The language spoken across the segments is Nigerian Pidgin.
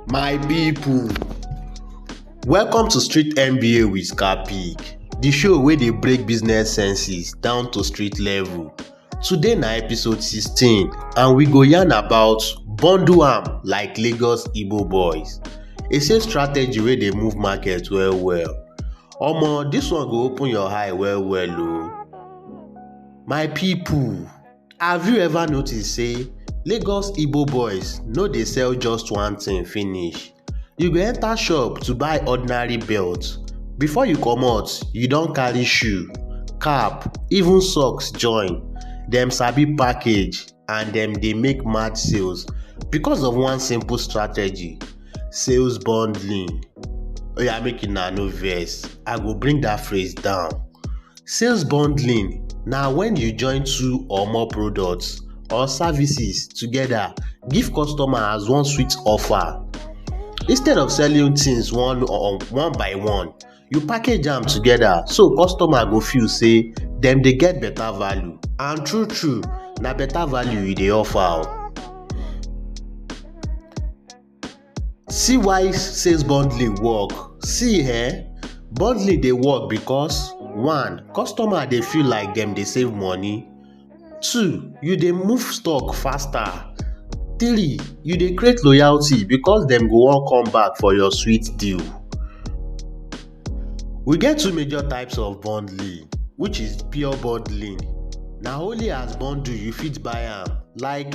My people, welcome to Street MBA with Capig, the show wey dey break business senses down to street level. Today na episode 16 and we go yarn about bundle am like Lagos Igbo boys. E say strategy wey dey move market well well. Omo, this one go open your eye well well o. My people, Have you ever noticed say Lagos Igbo boys no dey sell just one thing finish? You go enter shop to buy ordinary belt, before you comot you don carry shoe, cap, even socks join. Dem sabi package and dem dey make mad sales because of one simple strategy, sales bundling. Oya make una no vex, I go bring that phrase down. Sales bundling na when you join two or more products or services together give customer as one sweet offer. Instead of selling things one or one by one, you package am together so customer go feel say dem dey get better value and true true na better value you dey offer o. See why sales bundling work. See eh, bundling dey work because one, customer dey feel like dem dey save money, two, you dey move stock faster, three, you dey create loyalty because dem go wan come back for your sweet deal. We get two major types of bundling which is pure bundling. Na only as bundle you fit buy am like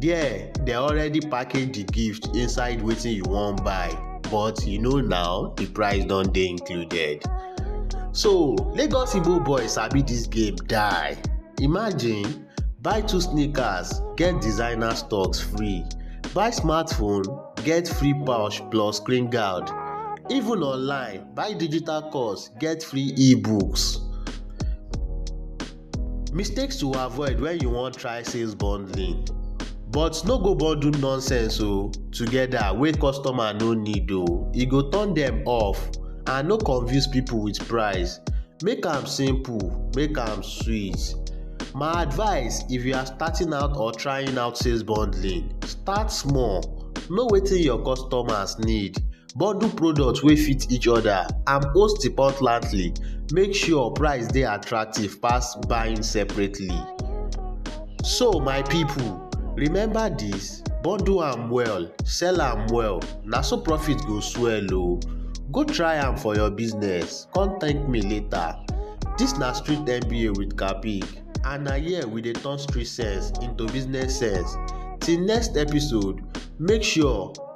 There, they already package the gift inside wetin you wan buy, but you know now the price don dey included. So, Lagos Igbo boy sabi this game die. Imagine, buy two sneakers, get designer stocks free. Buy smartphone, get free pouch plus screen guard. Even online, buy digital course, get free e-books. Mistakes to avoid when you wan try sales bundling but no go bundle nonsense o oh, together wey customer no need o oh. e go turn dem off and no confuse people with price make am simple make am sweet my advice if you are starting out or trying out sales bundling start small know wetin your customers need bundle products wey fit each other and host the pot nightly make sure price dey attractive pass buying separately. so my people remember this bundle am well sell am well na so profit go swell o go try am for your business come thank me later this na street mba with kabig and na here we dey turn street sense into business sense till next episode make sure